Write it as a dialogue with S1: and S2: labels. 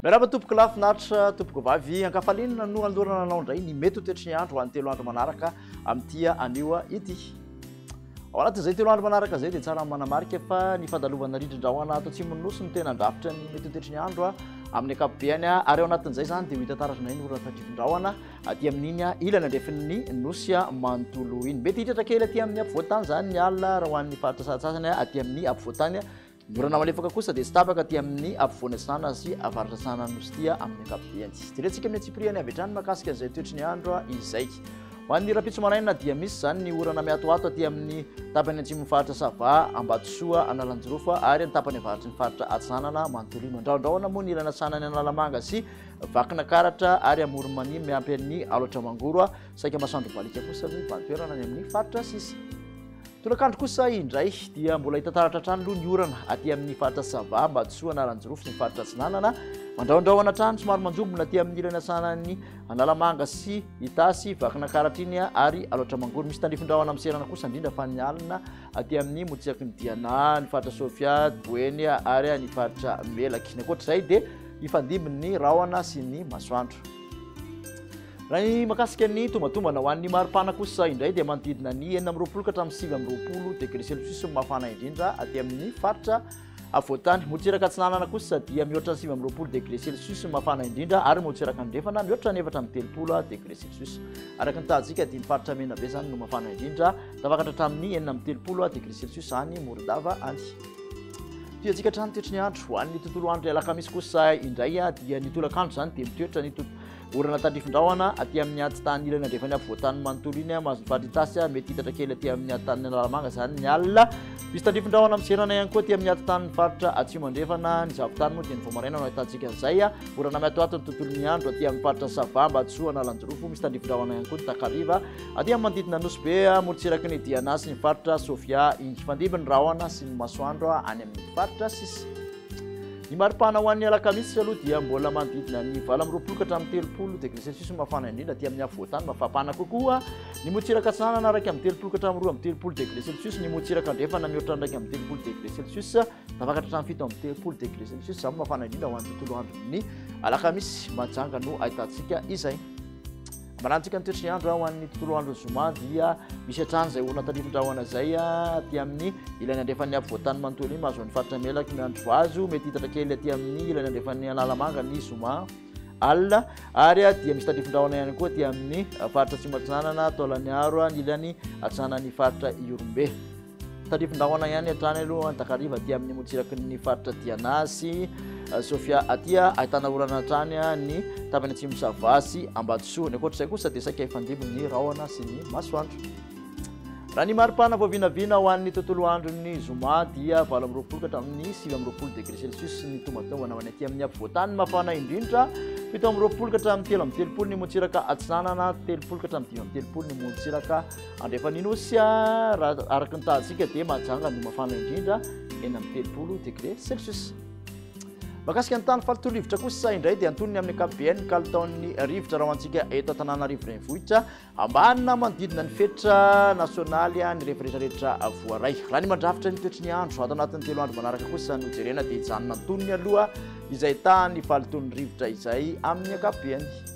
S1: Miarahaba tompoko lahy finaritra tompoko vavy ankafalinina no andorana anao indray ny mety ho toetry ny andro ho an'ny telo andro manaraka amin'ity anio ity. Ao anatin'izay telo andro manaraka izay dia tsara manamarika fa ny fandalovana rindrin-drahona ato atsimon'ny nosy no tena andrafitra ny mety ho toetry ny andro amin'ny ankapobehany ary ao anatin'izay izany dia ho hita taratra indray ny orana tandrifin-drahona aty amin'iny ilany andrefin'ny nosy manontolo iny mety hitratra kely aty amin'ny ampovoantany izany ny alina raha ho an'ny faritra satsasany aty amin'ny ampovoantany norana malefaka kosa dia tsy tapaka aty amin'ny ampovoana sanana sy avaratra sanana nosy tia amin'ny ankapobeny jerentsika amin'ny atsipiriany avy hatrany makasika izay toetry ny andro izay ho an'ny rapitso maraina dia misy izany ny orana miatoato aty amin'ny tapany antsimon'ny faritra sava ambatosoa analanjirofa ary ny tapany avaratry ny faritra atsanana manontolo iny andraondraona moa ny ilana sanany analamanga sy Vakina karatra ary amoron'i Mania miampy an'i Alaotra Mangoro, saika masoandro baliaka kosa ny valintoerana any amin'ny faritra sisa. Tolakandro kosa indray dia mbola hita taratra hatrany aloha ny orana aty amin'ny faritra Sava, Ambatosoa, Anaranjirofo sy ny faritra Atsinanana. Mandrahondrahona hatrany somary manjombona aty amin'ny ilany asanan'ny Analamanga sy Itasy, Vakina karatra iny ary Alaotra Mangoro. Misy tandrifin-drahona miserana kosa indrindra fa ny alina aty amin'ny motsiaky ny Diana, ny faritra Sofia, Boeny ary ny faritra Melaky. Ny ankoatr'izay dia hifandimby ny rahona sy ny masoandro raha ny makasika ny tombantombana ho an'ny maripana kosa indray dia manodidina ny enina amin'ny roapolo ka hatramin'ny sivy amin'ny roapolo degré celsius ny mafana indrindra aty amin'ny faritra avoatany motsiraka atsinanana kosa dia mihoatra ny sivy amin'ny roapolo degré celsius ny mafana indrindra ary motsiraka andrefana mihoatra ny efatra amin'ny telopolo degré celsius araka ny tahajika dia ny faritra mena be zany no mafana indrindra tafakatra hatramin'ny enina amin'ny telopolo degré celsius any morodava any Tiantsika hatrany toetry ny andro. Ho an'ny tontolo andro alakamisy kosa indray dia ny tolakandro izany dia mitoetra ny orana tandrifin-drahona aty amin'ny atitany ilany andrefan'ny afovoantany manontolo iny mahazo ny faritasy mety hitatra kely aty amin'ny atitany analamanga izany ny alina. Misy tandrifin-drahona miserana ihany koa aty amin'ny atitany faritra atsimo andrefana ny zavotany moa dia ny vao maraina no ahitantsika izay orana miatoato ny tontolon'ny andro aty amin'ny faritra sava mba tsoa analanjirofo misy tandrifin-drahona ihany koa ny takariva Aty amin'ny manodidina Nosy Be, morontsiraky ny Diana sy ny faritra Sofia, hifandimby ny rahona sy ny masoandro any amin'ny faritra sisa. Ny maripana ho an'ny alakamisy aloha dia mbola manodidina ny valo amby roapolo ka hatramin'ny telopolo degré celsius no mafana indrindra aty amin'ny afovoantany mafapana kokoa ny motsiraka atsinanana araka amin'ny telopolo ka hatramin'ny roa amby telopolo degré celsius ny motsiraka andrefana mihoatra ny raika amby telopolo degré celsius tafakatra hatramin'ny fito amby telopolo degré celsius izany mafana indrindra ho an'ny tontolo andron'ny alakamisy majanga no ahitantsika izay Manatrika ny toetry ny andro ho an'ny tontolo andro zoma dia misy hatrany izay orana tandrifin-drahona izay aty amin'ny ilany andrefan'ny afovoantany manontolo iny mahazoan'ny faritra melaky miandry vazo mety hitatra kely aty amin'ny ilany andrefan'ny alalamanga ny zoma alina ary dia misy tandrifin-drahona ihany koa aty amin'ny faritra tsy matsinanana taolaniaro ny ilany atsinanan'ny faritra iorombe Tandrifin-drahona ihany hatrany aloha ny takariva aty amin'ny motsiraky ny faritra Diana sy euh, Sofia aty ahitana orana hatrany ny tapany atsimo sava sy ambatosoa ny ankoatr'izay kosa dia saika hifandimby ny rahona sy ny masoandro raha ny maripana vao vinavina ho an'ny tontolo andron'ny zoma dia valo amin'ny roapolo ka hatramin'ny sivy amin'ny roapolo degré celsius ny tombatomvana ho any aty amin'ny afovoantany mafana indrindra fito amin'ny roapolo ka hatramin'ny telo amin'ny telopolo ny motsiraka atsinanana telopolo ka hatramin'ny dimy amin'ny telopolo ny motsiraka Andrefan'ny Nosy raha araka ny tahantsika dia mahajanga no mafana indrindra enina amby telopolo degré celsius. Makasika ny tany faritolo rivotra kosa indray dia antonony amin'ny ankapobeny ny kalitaon'ny rivotra raha hoantsika eto Antananarivo renivohitra ambanina manodidina ny fetra nasionaly ny rehefarehetra rehetra voaray. Raha ny mandrafitra ny toetry ny andro ato anatin'ny telo andro manaraka kosa no jerena dia hijanona antonony aloha izay tahan'ny falitolon'ny rivotra izay amin'ny ankapobeny.